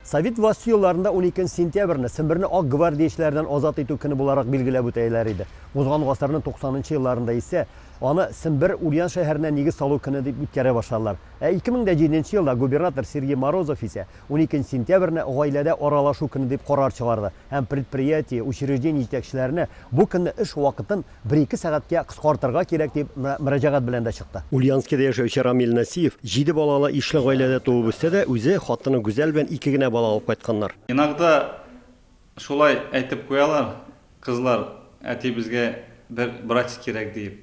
Совет власте елларында унике нче сентябрьне Семберне ак гвардиячеләрдән азат итү көне буларак билгеләп үтәеләр иде. Узган гасырның туксанынчы елларында исә аны Сембер, Ульян шәһәренә нигез салу көне дип үткәрә башладылар. Ә 2007 нче елда губернатор Сергей Морозов исә унике нче сентябрьне гаиләдә аралашу көне дип карар чыгарды. һәм предприятие, учреждение җитәкчеләренә бу көнне эш вакытын бер-ике сәгатькә кыскартырга кирәк дип мөрәҗәгать белән дә чыкты. Ульяновскида яшәүче Рамил Насиев җиде балалы ишле гаиләдә туып үсте дә, үзе, хатыны Гүзәл белән ике генә бала алып кайтканнар. Иногда шулай әйтеп куялар, кызлар, әтиебезгә бер братик кирәк диеп.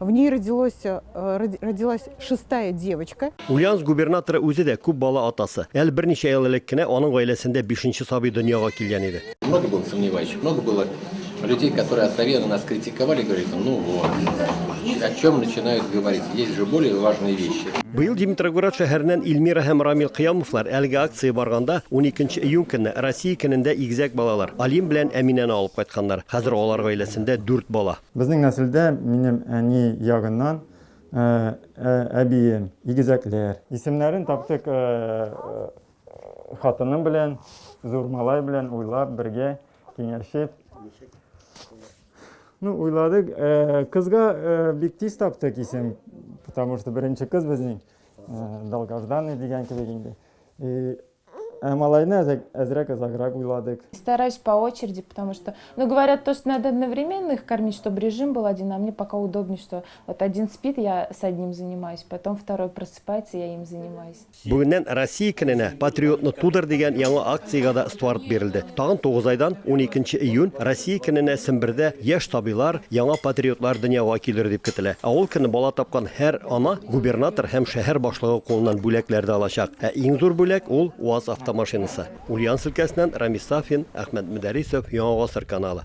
В ней родилось, э, родилась шестая девочка. Ульяновск губернаторы үзе дә күп бала атасы. Әле берничә ел элек кенә аның гаиләсендә бишенче сабый дөньяга килгән иде. Много было сомневающих, много было людей, которые откровенно нас критиковали, говорили, ну вот, о чем начинают говорить. Есть же более важные вещи. Быел Димитрогород шәһәреннән Ильмира һәм Рамил Кыямовлар әлеге акция барганда 12 июнь көнне Россия көнендә игезәк балалар Алим белән Әминәне алып кайтканнар. Хәзер алар гаиләсендә 4 бала. Безнең нәселдә минем әни ягыннан әбием, игезәкләр. Исемнәрен таптык хатыным белән, зур малай белән уйлап, бергә киңәшеп. Ну, уйладык. Кызга бик тиз таптык исем, потому что беренче кыз безнең, Долгожданный дигән кебек инде. Ә малайны әзрәк озаграк уйладык. Стараюсь по очереди, потому что, ну говорят то, что надо одновременно их кормить, чтобы режим был один, а мне пока удобнее, что вот один спит, я с одним занимаюсь, потом второй просыпается, я им занимаюсь. Бүгеннән Россия көненә патриотны тудыр дигән яңа акциягә да старт бирелде. Тагын 9 айдан 12 июнь Россия көненә Сембердә яшь сабыйлар, яңа патриотлар дөньяга килер дип көтелә. Ә ул көнне бала тапкан Һәр ана губернатор һәм шәһәр башлыгы кулыннан бүләкләр дә алачак. Ә иң зур бүләк, ул УАЗ автомашинасы. Ульяновск өлкәсеннән Рамис Сафин, Әхмәт Мөдәрисов, Яңа гасыр каналы.